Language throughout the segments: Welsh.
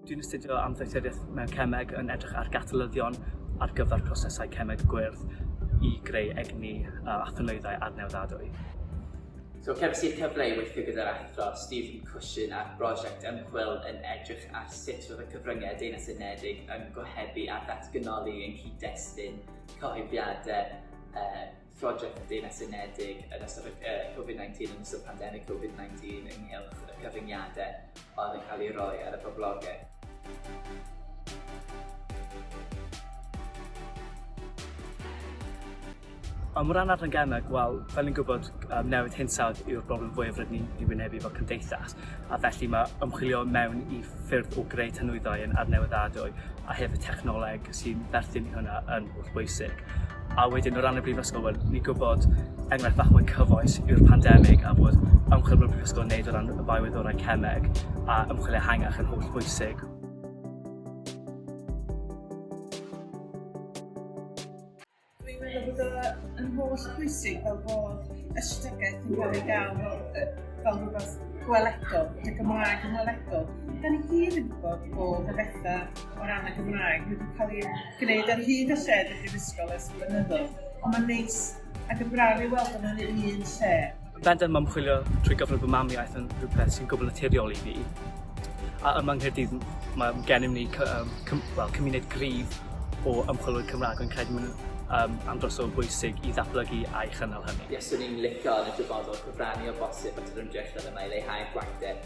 Dwi'n astudio am ddoethuriaeth mewn cemeg yn edrych ar gatalyddion ar gyfer prosesau cemeg gwyrdd i greu egni a thynwyddau adnewyddadwy. So, cefais i'r cyfle i weithio gyda'r athro Stephen Cushion ar brosiect ymchwil yn edrych ar sut roedd y cyfryngau Deyrnas Unedig yn gohebu a datganoli ein cyd-destun cyhoeddiadau uh, Project y Deyrnas Unedig yn ystod uh, Covid-19, yn ystod pandemig Covid-19 ynghylch y cyfyngiadau oedd yn cael ei roi ar y boblogaeth. O ran adran gemau, wel, fel ni'n gwybod, um, newid hinsawdd yw'r broblem fwyaf rydyn ni'n ei wynebu fel cymdeithas, a felly mae ymchwilio mewn i ffyrdd o greu tanwyddau yn adnewyddadwy a hefyd technoleg sy'n berthyn i hwnna yn holl bwysig. A wedyn, o ran y brifysgol, wel, ni'n gwybod enghraifft bach mwy cyfoes yw'r pandemig a bod ymchwil mewn brifysgol yn neud o ran y biowyddorau cemeg a ymchwilio hangach yn holl bwysig. Dwi'n meddwl bod o yn holl pwysig fel bod ystadegau yn cael ei gael fel, fel rhywbeth gweledol, y Gymraeg yn weledol. Da ni gyd yn gwybod bod y bethau o ran y Gymraeg wedi cael ei gwneud ar hyd y lled y brifysgol ers blynyddoedd, ond mae'n neis ac yn braf i weld yma'n un lle. Yn bendant mae ymchwilio trwy gyfrwng fy mamiaith yn rhywbeth sy'n gwbl naturiol i fi. A yma yng Nghaerdydd mae gennym ni cy, um, cym, well, cymuned gryf o ymchwilwyr Cymraeg, yn credu mewn um, am dros o bwysig i ddatblygu a'i chynnal hynny. Ie, swn i'n licio yn y dyfodol cyfrannu o bosib at yr ymdrechion yma i leihau'r gwacter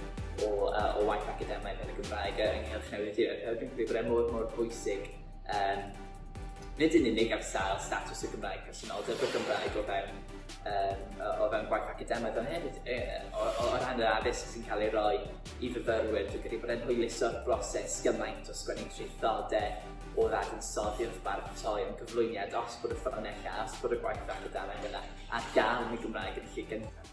o, uh, o waith academaidd yn y Gymraeg yng Nghylch Newid Diwedd. Hefyd yn credu bod e mor, mor bwysig Yym, nid yn unig am sail statws y Gymraeg, presenoldeb y Gymraeg o fewn, um, o fewn gwaith academaidd, ond hefyd e, o, o, o ran yr addysg sy'n cael ei roi i fyfyrwyr, dwi'n credu bod e'n hwyluso'r broses gymaint o sgwennu traethodau o ddadansoddi wrth baratoi yn gyflwyniad os bod y ffynonellau, os bod y gwaith academaidd yna ar gael yn y Gymraeg yn lle gyntaf.